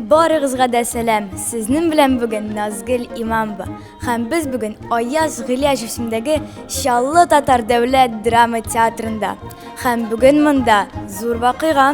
Барыгызга да сәлам. Сезнең белән бүген Назгөл Имамова. Һәм без бүген Аяз Гыляҗ исемендәге Чаллы татар дәүләт драма театрында. Һәм бүген монда зур вакыйга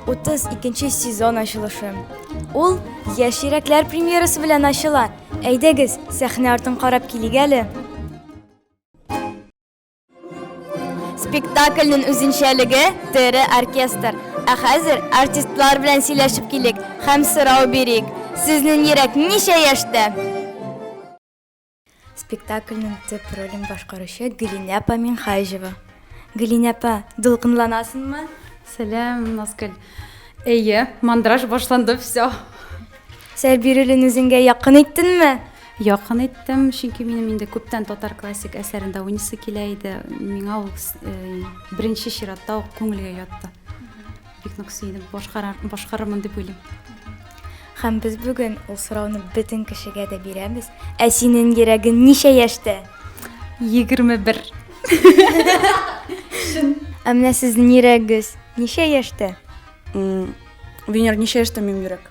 32 сезон ачылышы. Ул Яшь йөрәкләр премьерасы белән ачыла. Әйдәгез, сәхнә артын карап килик әле. Спектакльнең үзенчәлеге тере оркестр. Ә хәзер артистлар белән сөйләшеп килик һәм сорау бирик. Сезнең йөрәк ничә яшьтә? Спектакльнең төп ролен башкаручы Гөлинә апа Минхаҗева. Гөлинә апа, дулкынланасыңмы? Сәлам, Назгөл. Әйе, мандраж башланды, все. Сәр бирелен үзеңгә якын иттеңме? Якын иттем, чөнки минем инде күптән татар классик әсәрендә уйныйсы килә иде. Миңа ул э, беренче чиратта ук күңелгә ятты. Бик нык сөендем, башкарырмын дип уйлыйм. Һәм без бүген ул сорауны бөтен кешегә дә бирәбез. Ә синең йөрәгең ничә яшьтә? 21. Шын. Ә менә сезнең йөрәгегез ничә яшьтә? Винер, ничә яшьтә минем йөрәк?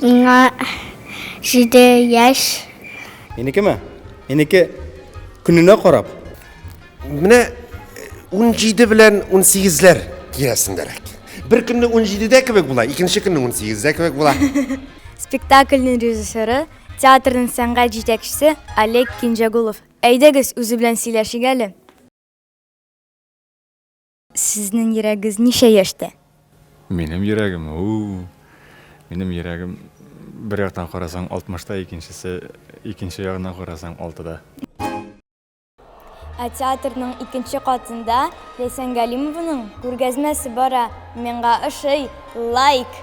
Миңа җиде яшь. Минекеме? Минеке көненә карап. Менә 17 э, белән 18ләр тирәсендәрәк. Бер көнне 17дә кебек була, икенче көнне 18дә кебек була. Спектакльнең режиссеры, театрның сәнгать җитәкчесе Олег Кинҗагулов. Әйдәгез, үзе белән сөйләшик әле. Сезнең йөрәгез ничә яшьтә? Минем йөрәгем, уу. Минем йөрәгем бер яктан карасаң 60 та, икенчесе, икенче ягыннан карасаң 6 да. Ә театрның икенче катында Ләйсән Галимованың күргәзмәсе бара. Миңа ошый. Лайк!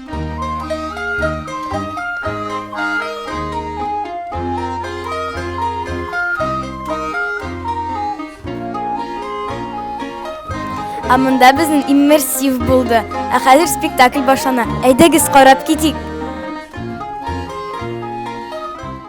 Ә монда безнең иммерсив булды. Ә хәзер спектакль башлана. Әйдәгез карап китик.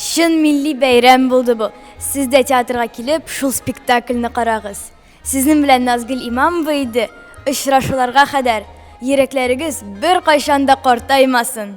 Чын милли бәйрәм булды бу. Сез дә театрга килеп, шул спектакльне карагыз. Сезнең белән Назгөл Имамова иде, очрашуларга кадәр. Йөрәкләрегез беркайчан да картаймасын.